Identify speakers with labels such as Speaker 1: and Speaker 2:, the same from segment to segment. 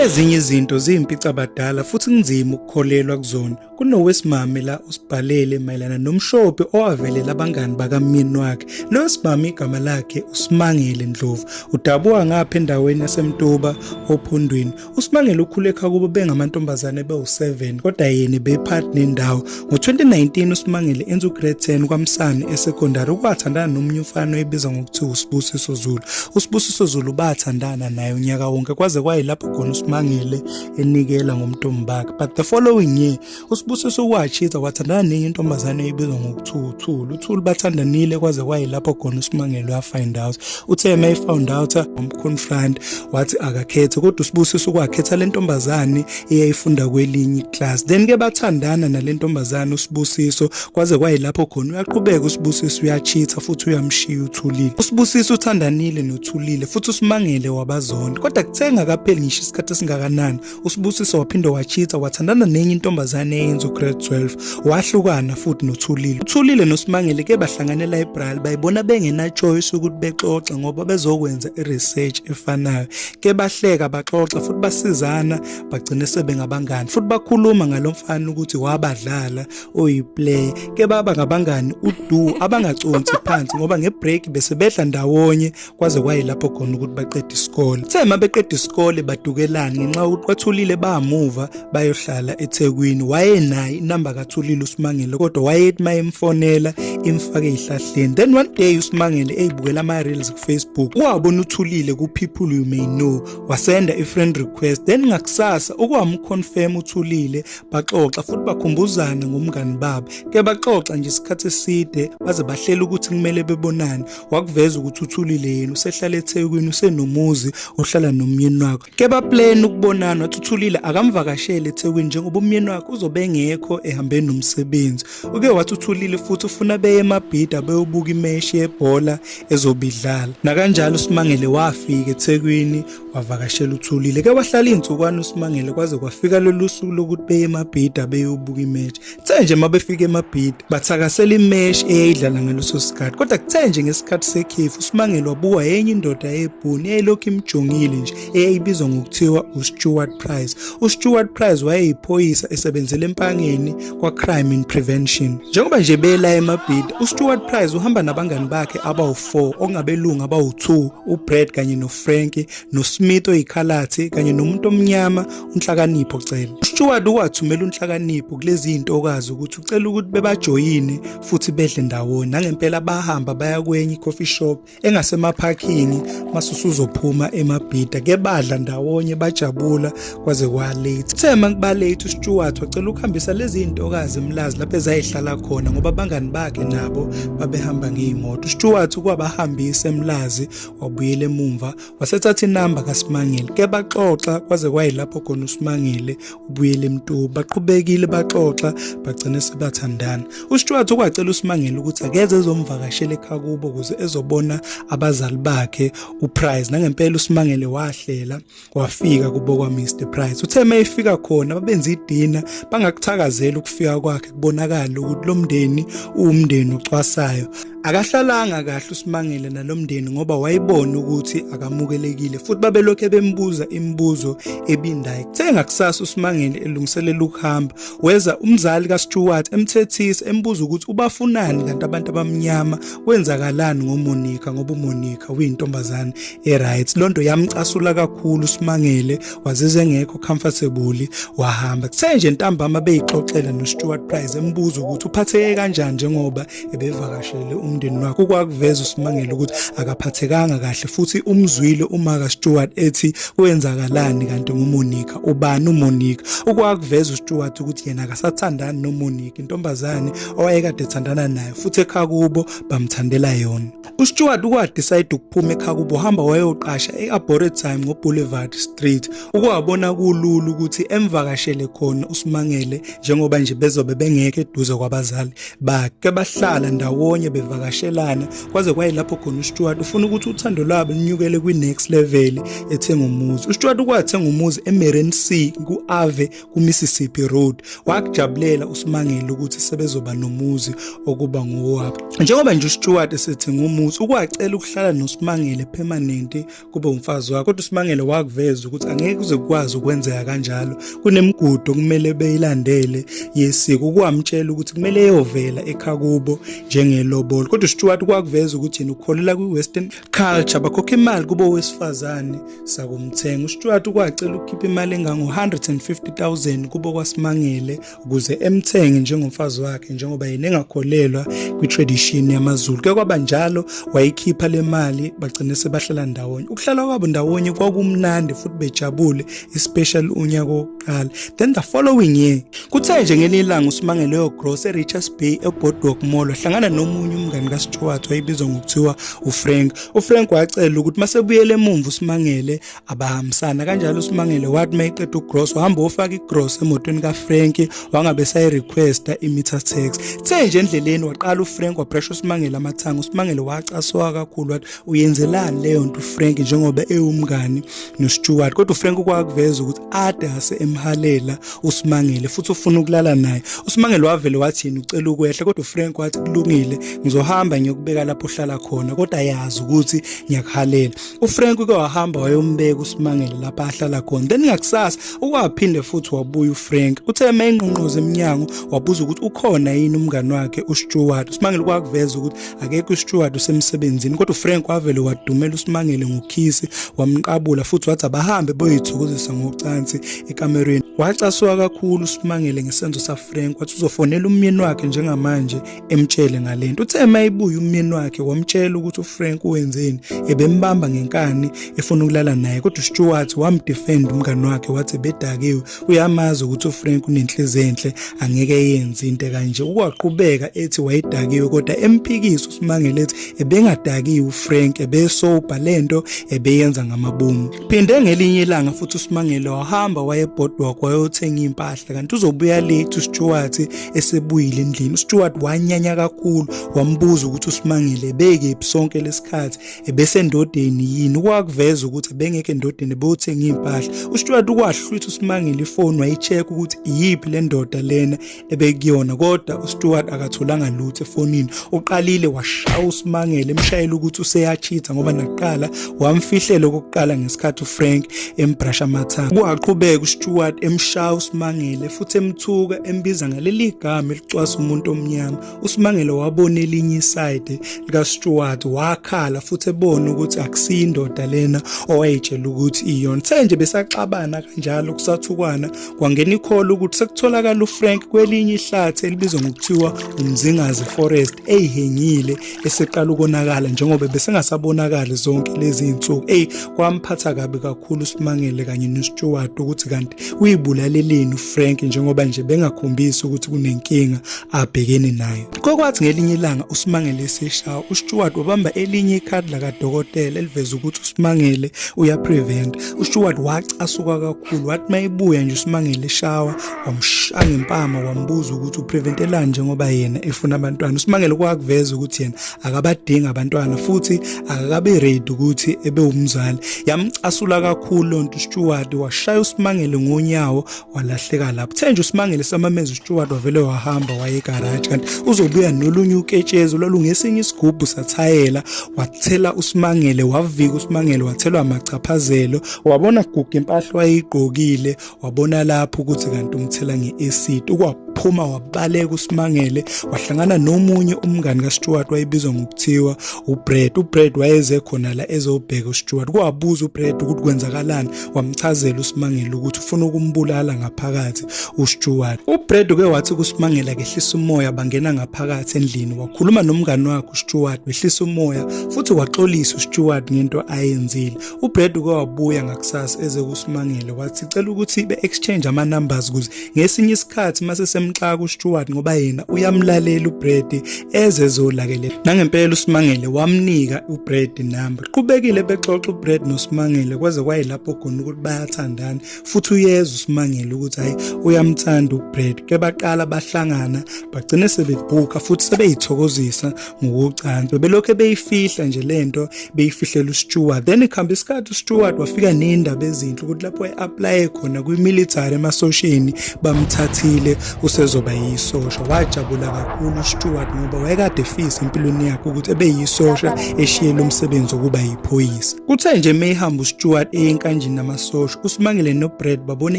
Speaker 1: Ezinye izinto ziyimpicabadala futhi kunzima ukukholelwa kuzona. Kunowesimame la usibhalele mayelana nomshophi owavelela abangani bakamyeni wakhe. Lo wesimame igama lakhe uSimangele Ndlovu. Udabuka ngapha endaweni yaseMtuba ophondweni. USimangele ukhulekha kubo bengamantombazane bewu-7 kodwa yena bephathi nendawo. Ngo-2019 uSimangele enza ugrade 10 kwaMsane esekondari ukwathandana nomunye umfana oyibiza ngokuthiwa uSibusiso Zulu. USibusiso Zulu bathandana naye unyaka wonke kwaze kwayilapho khona uSimangele enikela ngomntombi bakhe. But the following year uSibusiso watshitha wathandana nenye intombazane eyibizwa ngokuthiwa uThulu. UThulu bathandanile kwaze kwayilapho khona uSimangele wafind out. Uthe uma efound out wamconfront wathi akakhethe kodwa uSibusiso ukwakhetha le ntombazane eyayifunda kwelinye iclass then ke bathandana nalentombazana usibusiso kwaze kwayilapho khona uyaqhubeka usibusiso uyachitha futhi uyamshiya uthulile usibusiso uthandanile nothulile futhi usimangele wabazonda kodwa kuthenga kapheli ngisho isikhathi esingakanani usibusiso waphinde wachitha wathandana nenye intombazane eyenza ugrade 12 wahlukana futhi nothulile uthulile nosimangele ke bahlangana elibrary bayibona bengenachoice ukuthi bexoxe ngoba bezokwenza iresearch efanayo ke bahleka baxoxa futhi basizana bagcine sebengabangani futhi bakhuluma ngalomfana ukuthi wabadlala oyiplayer ke baba ngabangani udu abangaconsi phansi ngoba ngebreak bese bedla ndawonye kwaze kwayilapho khona ukuthi baqede isikole uthe uma beqeda isikole badukelana ngenxa yokuthi kwathulile bamuva bayohlala eThekwini wayenaye inamba kathulile uSimangele kodwa wayethi mayemfonela imfake ihlahleni then one day uSimangele eyibukela ama reels Facebook wabona uthulile ku people you may know wasenda i friend request then ngakusasa ukwamu confirm uthulile baxoxa futhi bakhumbuzana ngomngani babo ke baxoxa nje isikhathi eside baze bahlela ukuthi kumele bebonane wakuveza ukuthi uthulile yena usehlala eThekwini usenomuzi ohlala nomyeni wakho Keba plan ukubonana wathuthulile akamvakashele eThekwini njengoba umyeni wakhe uzobe engekho ehambeni nomsebenzi. Uke wathuthulile futhi ufuna beye emabhida beyobuka imeshi yebhola ezobidlala. Nakanjalo uSimangele wafika eThekwini wavakashela uThulile. Ke wahlala izinsukwana uSimangele kwaze kwafika lolu suku lokuthi beye emabhida beyobuka imeshi. Kuthe nje uma befika emabhidi bathakasela imeshi eyayidlala ngaleso sikhathi kodwa kuthe nje ngesikhathi sekhefu uSimangele wabukwa enye indoda eyebhuni eyayilokhu imjongile nje eyayibizwa ngokuthiwa uStewart Price. UStewart Price wayeyiphoyisa esebenzela empangeni kwa-Crime in Prevention. Njengoba nje bela emabhidi uStewart Price uhamba nabangani bakhe abawu-4 okungabelungu abawu-2 uBrad kanye noFrankie noSmith oyikhalathi kanye nomuntu omnyama uNhlakanipho Cele. USteward wathumela uNhlakanipho kulezi zintokazi ukuthi ucela ukuthi bebajoyine futhi bedle ndawonye. Nangempela bahamba baya kwenye coffee shop engasemaphakini masusuzophuma emabhida ke badla ndawonye bajabula kwaze kwa late. Uthe makuba late uSteward wacela ukuhambisa lezi zintokazi emlazi lapho ezayihlala khona ngoba abangani bakhe nabo babehamba ngezimoto. USteward kwabahambisa emlazi wabuyela emumva wasethatha inamba kaSimangele ke baxoxa kwaze kwayilapho khona uSimangele ubuyele emtuba baqhubekile baxoxa bagcine sebathandana uStuart ukwacela uSimangele ukuthi akeze ezomvakashela ekhaya kubo ukuze ezobona abazali bakhe uPrize nangempela uSimangele wahlela wafika kubo kwa Mr Price uthe mayifika khona babenza idina bangakuthakazela ukufika kwakhe kubonakala ukuthi lo mndeni uwumndeni ocwasayo akahlalanga kahle uSimangele nalomndeni ngoba wayibona ukuthi akamukelekile futhi babelokhe bembuza imibuzo ebindayo kuthenga kusasa uSimangele elungiselela ukuhamba weza umzali kaStewart emthethisa embuza ukuthi ubafunani kanti abantu abamnyama kwenzakalani ngoMonica ngoba uMonica uyintombazane eright lonto yamcasula kakhulu simangele wazize engekho comfortable wahamba kuthe nje ntambama beyixoxela noStuart Price embuza ukuthi uphatheke kanjani njengoba ebevakashele umndeni wakhe ukwakuveza usimangele ukuthi akaphathekanga kahle futhi umzwile uma kaStuart ethi kwenzakalani kanti nguMonica ubani uMonica ukwakuveza uStuart ukuthi yena akasathandani noMonica intombazane owayekade ethandana naye futhi ekhaya kubo bamthandela yona UStewart ukwadecide ukuphuma ekhaya kubo hamba wayoqasha e-Arboretum ngoBoulevard Street ukuwabona kulula ukuthi emvakashele khona uSimangele njengoba nje bezobe bengeke eduze kwabazali bakhe bahlala ndawonye bevakashelana kwaze kwayilapho khona uStewart ufuna ukuthi uthando lwabo lunyukele kwi-next level ethenga umuzi uStewart ukwathenga umuzi eMerensea ku-Ave kuMississippi Road wakujabulela uSimangele ukuthi sebezoba nomuzi okuba ngowabo njengoba nje uStewart esethi ngumuzi ukwacela ukuhlala noSimangele permanent kube umfazi wakhe kodwa uSimangele wakuveza ukuthi angeke kuze kukwazi ukwenzeka kanjalo kunemigudu kumele beyilandele yesiko kwamtshela ukuthi kumele eyovela ekhakubo njengelobolo kodwa uStewart kwakuveza ukuthi yena ukholelwa kwiWestern culture bakhokha imali kubo wesifazane sakumthenga uStuart ukwacela ukukhipha imali engango 150000 kubo kwasimangele ukuze emthenge njengomfazi wakhe njengoba yena engakholelwa kwitradition yamaZulu ke kwaba njalo wayikhipha le mali bagcine sebahlala ndawonye ukuhlala kwabo ndawonye kwakumnandi futhi bejabule especially unyaka kuqala then the following year kuthe nje ngelinye ilanga usimange leyo gross e-richards bay eboardwalk mall wahlangana nomunye umngani kastewart wayebizwa ngokuthiwa ufrank ufrank wacela ukuthi masebuyele emumva usimangele abahambisana kanjalo usimangele wathi uma eqeda ugross wahamba wofaka igross emotweni kafrank wangabe sayirequesta i-meter tax kuthe nje endleleni waqala ufrank wapressure usimangele amathanga usimangele wacaswa kakhulu wathi uyenzelani leyo nto ufrank njengoba ewumngani nosteward kodwa ufrank ukwakuveza ukuthi ade ase emhalela usimangele futhi ufuna ukulala naye usimangele wavele wathini ucela ukwehla kodwa ufrank wathi kulungile ngizohamba ngiyokubeka lapho uhlala khona kodwa yazi ukuthi ngiyakuhalela ufrank uke wahamba wayombeka usimangele lapho ahlala khona then ngakusasa ukwaphinde futhi wabuya ufrank uthe uma engqonqoza emnyango wabuza ukuthi ukhona yini umngani wakhe usteward usimangele kwakuveza ukuthi akekho uSteward usemsebenzini kodwa uFrank wavele wadumela uSimangele ngokhisi wamqabula futhi wathi abahambe boyithokozisa ngocansi ekamerweni wacasuka kakhulu uSimangele ngesenzo saFrank wathi uzofonela umyeni wakhe njengamanje emtshele ngalento uthe mayibuya umyeni wakhe wamtshela ukuthi uFrank wenzeni ebembamba ngenkani efuna ukulala naye kodwa uSteward wamdefend umngane wakhe wathi bedakiwe uyamazi ukuthi uFrank unenhliziyo enhle angeke yenze into kanje ukwaqhubeka ethi wayedakiwe kodwa empikisa uSimangele ethi ebengadakiwe uFrank ebesobha lento ebeyenza ngamabomu phinde ngelinye ilanga futhi uSimangele wahamba wayebhodwa kwayothenga impahla kanti uzobuya late uStuart esebuyile endlini uStuart wanyanya kakhulu wambuza ukuthi uSimangele beke sonke lesikhathi ebesendodeni yini kwakuveza ukuthi bengeke endodeni bewuthenga impahla uStuart ukwahlwitha usimangile ifoni wayicheck ukuthi iyiphi le ndoda lena ebekuyona kodwa uStuart akatholanga lutho efonini uqalile washaya usimangele emshayela ukuthi useyachitha ngoba nakuqala wamfihlela okokuqala ngesikhathi uFrank embrasha amathanga kwaqhubeka uStuart emshaya usimangele futhi emthuka embiza ngaleli gama elicwasa umuntu omnyama uSimangele wabona elinye iside likaStuart wakhala futhi ebona ukuthi akusiyo indoda lena owayetshela ukuthi iyona the nje besaxabana kanjalo kusathukwana kwangena ikhola ukuthi sekutholakala uFrank kwelinye ihlathi elibizwa ngokuthiwa umzingazi forest eyihengile eseqala ukonakala njengoba besengasabonakali zonke lezi insuku ey kwamphatha kabi kakhulu uSimangele kanye noStuart ukuthi kanti uyibulaleleni uFrank njengoba nje bengakhombisi ukuthi kunenkinga abhekene nayo. Kokwathi ngelinye ilanga uSimangele eseshawa uStewart wabamba elinye ikhadi lakadokotela eliveza ukuthi uSimangele uyaprevent. UStewart wacasuka kakhulu wathi mayibuya nje uSimangele eshawa wamshaya ngempama wambuza ukuthi upreventelani njengoba yena efuna abantwana. USimangele kwakuveza ukuthi yena akabadingi abantwana futhi akakabe ready ukuthi ebe umzali. Yamcasula kakhulu lonto uStewart washaya uSimangele ngonyawo walahleka lapho thenje usimangele samamenza uSteward wavele wahamba waye garage kanti uzobuya nolunye uketshezi olungesinye isigubhu sathayela wathela usimangele wavika usimangele wathelwa amachaphazelo wabona gugu impahla wayigqokile wabona lapho ukuthi kanti umthela ngeacid ukwaphuma wabaleka usimangele wahlangana nomunye umngani kaSteward wayebizwa ngokuthiwa uBrad uBrad wayeze khona la ezobheka uSteward kwabuza uBrad ukuthi kwenzakalani wamchazela uSimangele ukuthi ufuna ukumbulala ngaphakathi uStuart. UBrad uke wathi kuSimangele kehlisa umoya bangena ngaphakathi endlini wakhuluma nomngani wakhe uStuart wehlisa umoya futhi waxolisa uStuart ngento ayenzile. UBrad uke wabuya ngakusasa eze kuSimangele wathi cela ukuthi be-exchange ama-numbers ukuze ngesinye isikhathi mase semxaka uStuart ngoba yena uyamlalela uBrad ezezolakelela nangempela uSimangele wamnika uBrad number qhubekile bexoxa uBrad noSimangele kwaze kwayilapho khona ukuthi bayathandana futhi uyeza uSimangele ukuthi hayi uyamthanda uBrad ke baqala bahlangana bagcine sebebhuka futhi sebeyithokozisa ngokocansi bebelokhu beyifihla nje le nto beyifihlela usteward then ikuhamba isikhathi usteward wafika ney'ndaba ezinhle ukuthi lapho e-aplaye khona kwimilitary emasosheni bamthathile usezoba yisosha wajabula kakhulu usteward ngoba wayekade efisa empilweni yakhe ukuthi ebe yisosha eshiyele umsebenzi wokuba yiphoyisa kuthe nje meyihamba usteward eyenkanjini namasosha usimangele nobred babone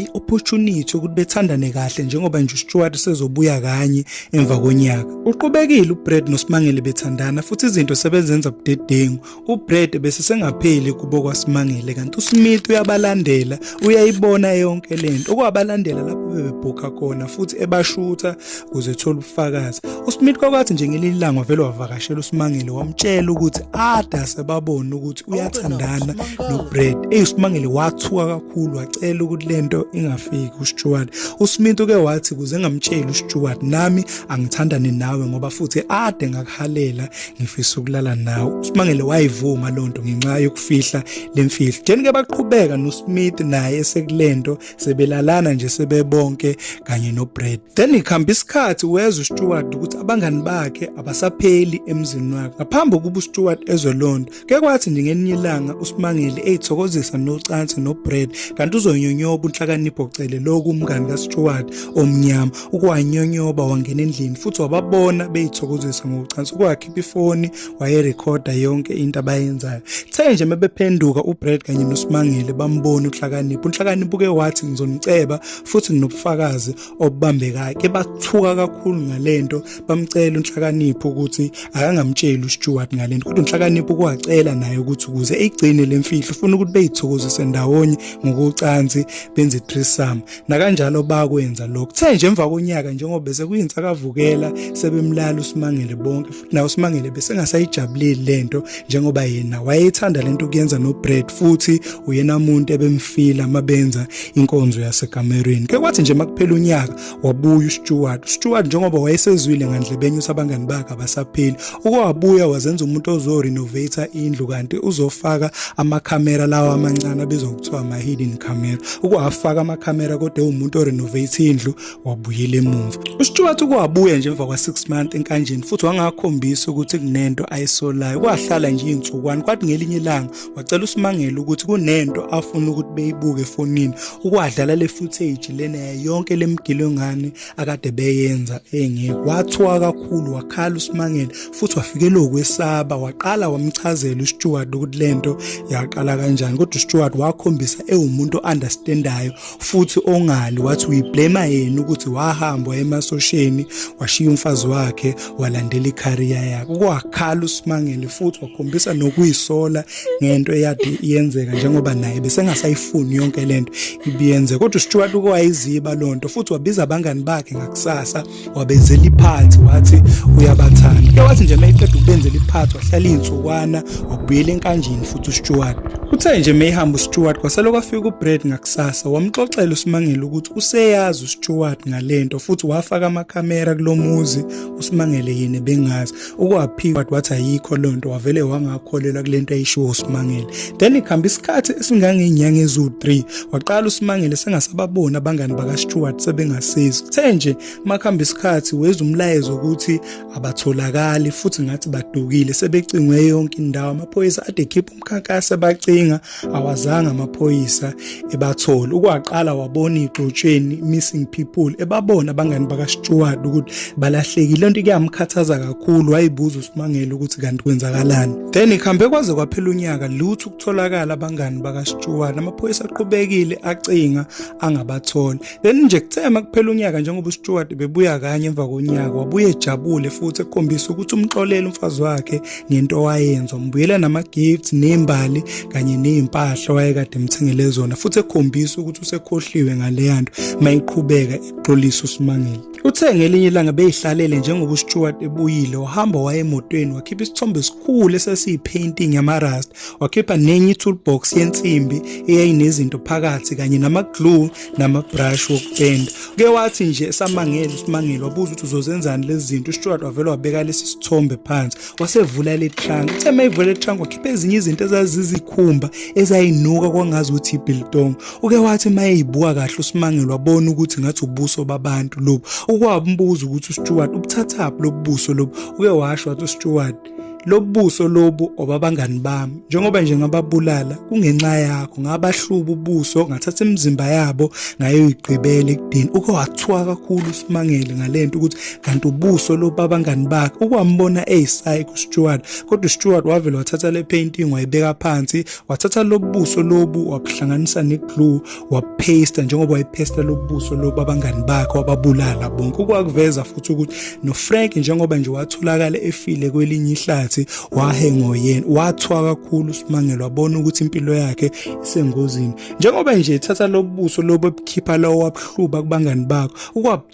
Speaker 1: i-opportunity ukuthi bethandane kahle njengoba nje usteward sezobuya kanye emva konyaka. Uqhubekile uBrad noSimangele bethandana futhi izinto sebezenza budedengu. UBrad bese sengapheli kubo kwaSimangele kanti uSmith uyabalandela, uyayibona yonke lento. Okwabalandela lapho bebebhukha khona futhi ebashutha ukuze ethole ubufakazi. USmith kwakwathi nje ngelinye ilanga vele wavakashela uSimangele wamtshela ukuthi ada sebabona ukuthi uyathandana nobread eyi usimangele wathuka kakhulu wacela ukuthi lento ingafiki usteward usmith uke wathi kuze ngamtsheli usteward nami angithandane nawe ngoba futhi ade ngakuhalela ngifisa ukulala nawe usimangele wayivuma lonto ngenxa yokufihla lemfihlo jeni ke baqhubeka nosmith naye esekulento sebelalana nje sebebonke kanye noBrad then ikhamba isikhathi wezwa uStewart ukuthi abangani bakhe abasapheli emzini wakhe ngaphambi kokuba uStewart ezwe lonto ke kwathi nje ngelinye ilanga uSimangele eyithokozisa nocansi noBrad kanti uzonyonyoba unhlakanipho cele loku umngani kaStewart omnyama ukuwanyonyoba wangena endlini futhi wababona beyithokozisa ngocansi ukwakhipha ifoni wayerekhoda yonke into abayenzayo kuthe nje mebephenduka uBrad kanye noSimangele bambona uhlakaniphi uhlakaniphi uke wathi ngizomceba futhi nginobufakazi obubambekayo ke bathuka kakhulu ngalento bamcela uhlakaniphi ukuthi akangamtsheli uStewart ngalento kodwa uhlakaniphi kwacela naye ukuthi ukuze igcine lemfihlo ufuna ukuthi beyithokozise ndawonye ngokucansi benze threesome nakanjalo bakwenza lokho kuthe nje emva konyaka njengoba bese kuyinsakavukela sebemlala uSimangele bonke Naye uSimangele besengasayijabuleli lento njengoba yena wayethanda lento kuyenza noBrad futhi uyena umuntu ebemfila mabenza inkonzo yaseGamerweni. Ke kwathi nje makuphela unyaka wabuya uStewart. Stewart njengoba wayesezwile ngandlebenye ukuthi abangani bakhe abasapheli. Uke wabuya wazenza umuntu ozo renovate indlu kanti uzofaka amakhamera lawa amancane abizwa kuthiwa ama hidden camera. Ukwafaka amakhamera kodwa umuntu o renovate indlu wabuyela emumva uStuart ukwabuya nje emva kwa-6 month enkanjeni futhi wangakhombisa ukuthi kunento ayisolayo kwahlala nje iy'nsukwane kwathi ngelinye ilanga wacela usimangele ukuthi kunento afuna ukuthi beyibuke efonini ukwadlala le footage lena yayonke le mgilo ngane akade beyenza engekho wathiwa kakhulu wakhala usimangele futhi wafikelwa ukwesaba waqala wamchazela uStuart ukuthi lento yaqala kanjani kodwa uStuart wakhombisa ewumuntu o-understandayo futhi ongali wathi uyiblema yena ukuthi wahamba emasosheni washiya umfazi wakhe walandela icareer yakhe kwakhala usimangele futhi wakhombisa nokuyisola ngento eyade yenzeka njengoba naye besengasayifuni yonke lento ibiyenze kodwa uStuart ukwayiziba lonto futhi wabiza abangani bakhe ngakusasa wabenzela iphathi wathi uyabathanda ke wathi nje mayiqeda ukubenzela iphathi wahlala iy'nsukwana wakubuyela enkanjini futhi usteward uthe nje meyihamba usteward kwasele kwafika ubred ngakusasa wamxoxela usimangele ukuthi useyazi usteward ngale nto futhi wafaka amakhamera kulo muzi usimangele yini bengazi ukwaphika wathi wathi ayikho loo nto wavele wangakholelwa kule nto ayishiwo usimangele then kuhamba isikhathi esingangeenyanga eziwu-3 waqala usimangele sengasababoni abangani bakastewart sebengasizi kuthe nje uma kuhamba isikhathi weza umlayezo ukuthi abatholakali futhi ngathi badukile sebecingwe yonke indawo amaphoyisa ade ekhipha umkhankaso abacinga awazange amaphoyisa ebathole ukwaqala wabona igxotsheni missing people ebabona abangani bakaSteward ukuthi balahlekile lento kuyamkhathaza kakhulu wayibuza uSimangele ukuthi kanti kwenzakalani then ikhambe kwaze kwaphela unyaka lutho ukutholakala abangani bakaSteward amaphoyisa aqhubekile acinga angabathola Leli nje kuthe makuphela unyaka njengoba uStewart bebuya kanye emva konyaka wabuye ejabule futhi ekhombisa ukuthi umxolele umfazi wakhe ngento wayenza umbuyela nama gifts nembali kanye nezimpahla wayekade emthengele zona futhi ekhombisa ukuthi usekhohliwe ngaleya nto mayiqhubeka ixolisa uSimangele Uthe ngelinye ilanga beyihlalele njengoba uStewart ebuyile wahamba waye emotweni wakhipha isithombe esikhulu esasiyipainting yamarasta wakhipha nenye toolbox yensimbi eyayinezinto phakathi kanye nama glue namabrush wokupenda uke wathi nje esamangele usimangele wabuza ukuthi uzozenzani lezi zinto ustuart wavele wabeka lesi sithombe phansi wasevula le trunk uthe uma ivula le trunk wakhipha ezinye izinto ezazizikhumba ezayinuka kwangazi ukuthi ibiltong uke wathi uma eyibuka kahle usimangele wabona ukuthi ngathi ubuso babantu lobu ukwabumbuza ukuthi ustuart ubuthathaphi lobubuso lobu uke washo wathi ustuart lobuso lobu obabangani bami njengoba nje ngababulala kungenxa yakho ngabahluba ubuso ngathatha imizimba yabo ngayoyigqibela ekudeni uke wathiwa kakhulu usimangele ngalento ukuthi kanti ubuso lobabangani bakhe ukwambona eyisayi kuStewart kodwa uStewart wavele wathatha le painting wayibeka phansi wathatha lobuso lobu wabuhlanganisa neglue waphesta njengoba wayephesta lobuso loba abangani bakhe wababulala bonke ukwakuveza futhi ukuthi noFrank njengoba nje watholakala efile kwelinye ihlathi wahengo yena wathwa kakhulu uSimangelo wabona ukuthi impilo yakhe isengozini njengoba nje ethatha lobuso lobo ebukhipha lawo wabhluba kubangani bakho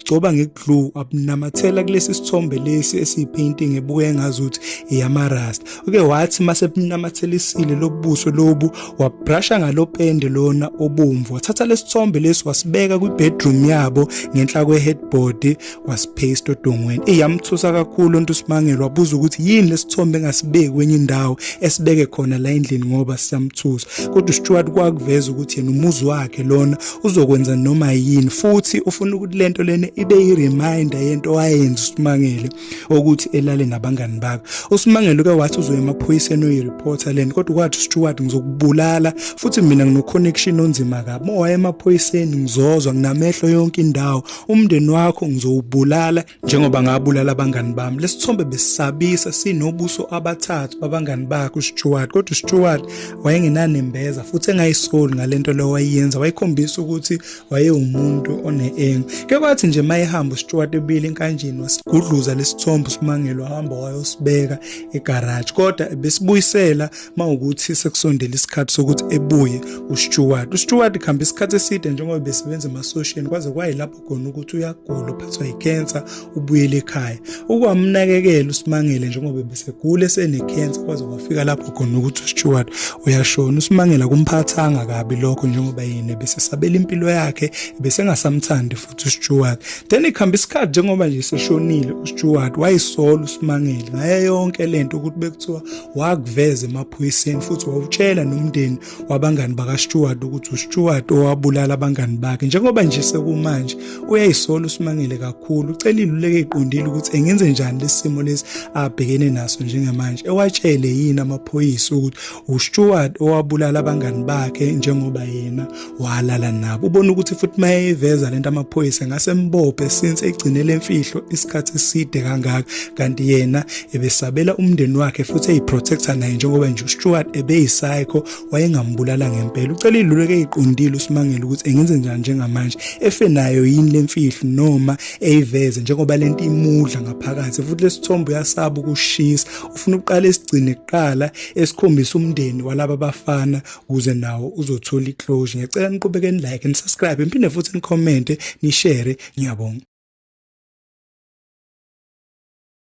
Speaker 1: gcoba ngeglue abunamathela kulesi sithombe lesi esiyipainting ebuke ngazuthi iyamarasta uke wathi mase bunamathelisile lobuso lobu wabrusha ngalopende lona obomvu wathatha lesithombe lesi wasibeka kwi bedroom yabo ngenhla kwe headboard wasipaste odongweni iyamthusa kakhulu onto uSimangelo wabuza ukuthi yini lesithombe engasibeki kwenye indawo esibeke khona la endlini ngoba siyamthusa kodwa uStuart kwakuveza ukuthi yena umuzi wakhe lona uzokwenza noma yini futhi ufuna ukuthi lento lena ibe i-reminder yento wayenza uSimangele ukuthi elale nabangani bakhe uSimangele uke wathi uzoya emaphoyiseni uyi-reporter lento kodwa kwathi uStewart ngizokubulala futhi mina ngino-connection onzima kabi mowaya emaphoyiseni ngizozwa nginamehlo yonke indawo umndeni wakho ngizowubulala Njengoba ngabulala abangani bami, lesithombe besisabisa sinobuso abathathu babangani bakhe uStuart. Kodwa uStuart wayengenanembeza futhi engayisoli ngalento leyo wayenza, wayekhombisa ukuthi wayewumuntu oneenga. Ke kwathi nje mayehamba uStuart ebile enkanjini wasigudluza lesithombe uSimangelo hamba wayosibeka egarage. Kodwa besibuyisela mawukuthi sekusondela isikhathi sokuthi ebuye uStuart. UStuart khamba isikhathi eside njengoba besebenza emasosheni kwaze kwayilapho khona ukuthi uyagula uphathwa yicancer ubuyele ekhaya ukwamnakekela usimangele njengoba besegula esenecancer kwaze kwafika lapho khona ukuthi uStewart uyashona usimangela kumphathanga kabi lokho njengoba yena besesabela impilo yakhe besengasamthandi futhi uStewart then ikhamba isikhathi njengoba nje seshonile uStewart wayisola usimangele ngaye yonke lento ukuthi bekuthiwa wakuveza emaphoyiseni futhi wawutshela nomndeni wabangani bakaStewart ukuthi uStewart owabulala abangani bakhe njengoba nje sekumanje uyayisola uSimangele kakhulu ucela iluleke iqondile ukuthi engenze njani lesimo lesi abhekene naso njengamanje ewatshele yini amaphoyisa ukuthi uStewart owabulala abangani bakhe njengoba yena walala nabo ubona ukuthi futhi mayeveza lento amaphoyisa ngase mbophe since egcinele imfihlo isikhathi eside kangaka kanti yena ebesabela umndeni wakhe futhi eyiprotector naye njengoba nje uStuart ebeyisayikho wayengambulala ngempela ucela iluleke eyiqondile usimangele ukuthi engenze njani njengamanje efe nayo yini lemfihlo noma eyiveze njengoba lento imudla ngaphakathi futhi lesithombo uyasaba ukushisa ufuna ukuqala esigcine kuqala esikhombisa umndeni walaba bafana kuze nawo uzothola iclosure ngicela niqhubeke ni like ni subscribe niphinde futhi ni comment ni share ngiyabonga